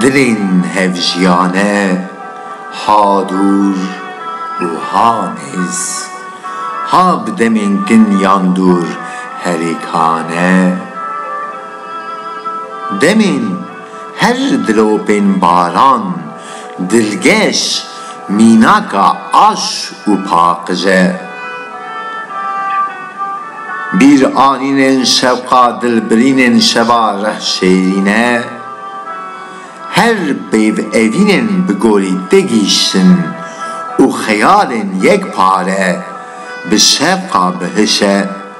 Dilên hevjiyane ha dûr û ha nêz, ha bi demên kin yan dûr herikane, demên her dilopên baran. Dilgeş mînaka aş û paqij e. Bîr anînên şewqa dilbirînên şeva reh şêrîn e. Her pêv evînên bi gorî te gîştin û xeyalên yek pare bi şewqa bi hiş e.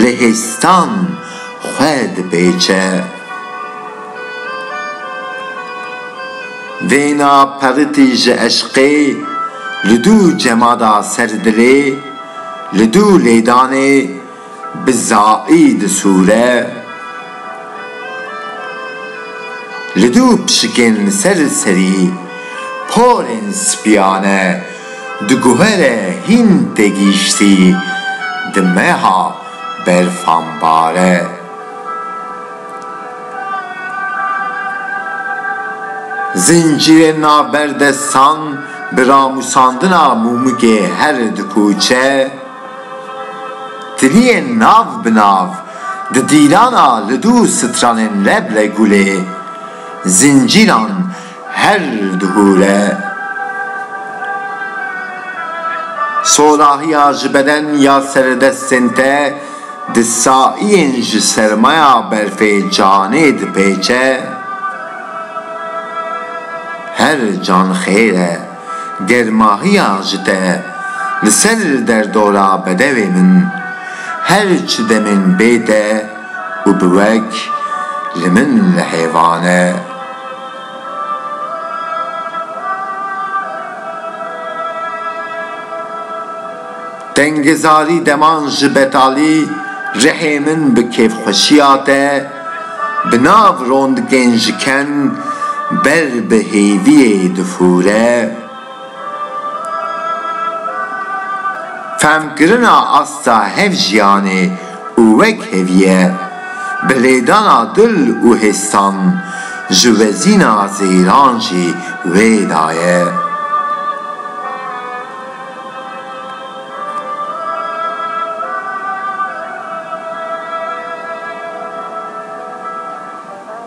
li hêstan xwe dipêçe. Vêna peritî ji eşqê li dû cemada ser dilê, li dû lêdanê bi zaî disûre. Li dû pişikên li ser serî porên spîyane. diguhere hîn tê gihîştî di meha berfanbare. Zincîrê navber destan bi ramûsandina mûmikê her dikoçe, tiliyên nav bi nav di dîlana li dû stranên Reblê Gulê zincîran Her di hûre solahiya ji beden ya seredestên te di saiyên ji sermaya berfê canê dipêçe, her can xêr e, germahiya ji te li ser derdora bedewê min her çi demên bê te û bi wek li min lehêvan e. Tengezarî deman ji betalî rihê min bi kêfxweşiya te bi nav rondikên ji ken ber bi hêviyê difûre. Fehmkirina asta hevjiyanê û wekheviyê, bi lêdana dil û hêstan ji wezîna zêran jî wê daye.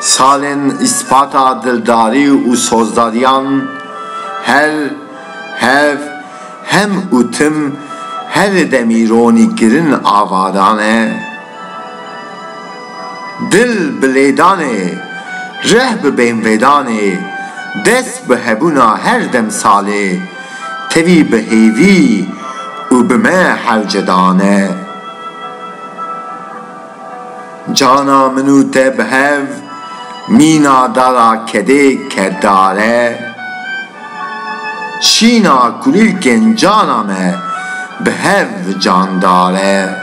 Salên îspata dildarî û sozdariyan her hev hem û tim herî demîronî kirin ava dane. Dil bi lêdanê, rih bi bênvêdanê, dest bi hebûna her demsalê, tevî bi hêvî û bi me hewce dane. Cana min û te bi hev, mîna dara kedê kerdare. Şîna kulîlkên cana me, bi hev candare.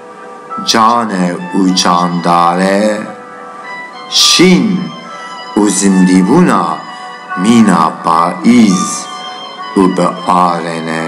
cane û candare, şîn û zindîbûna mîna payîz û bi are ne.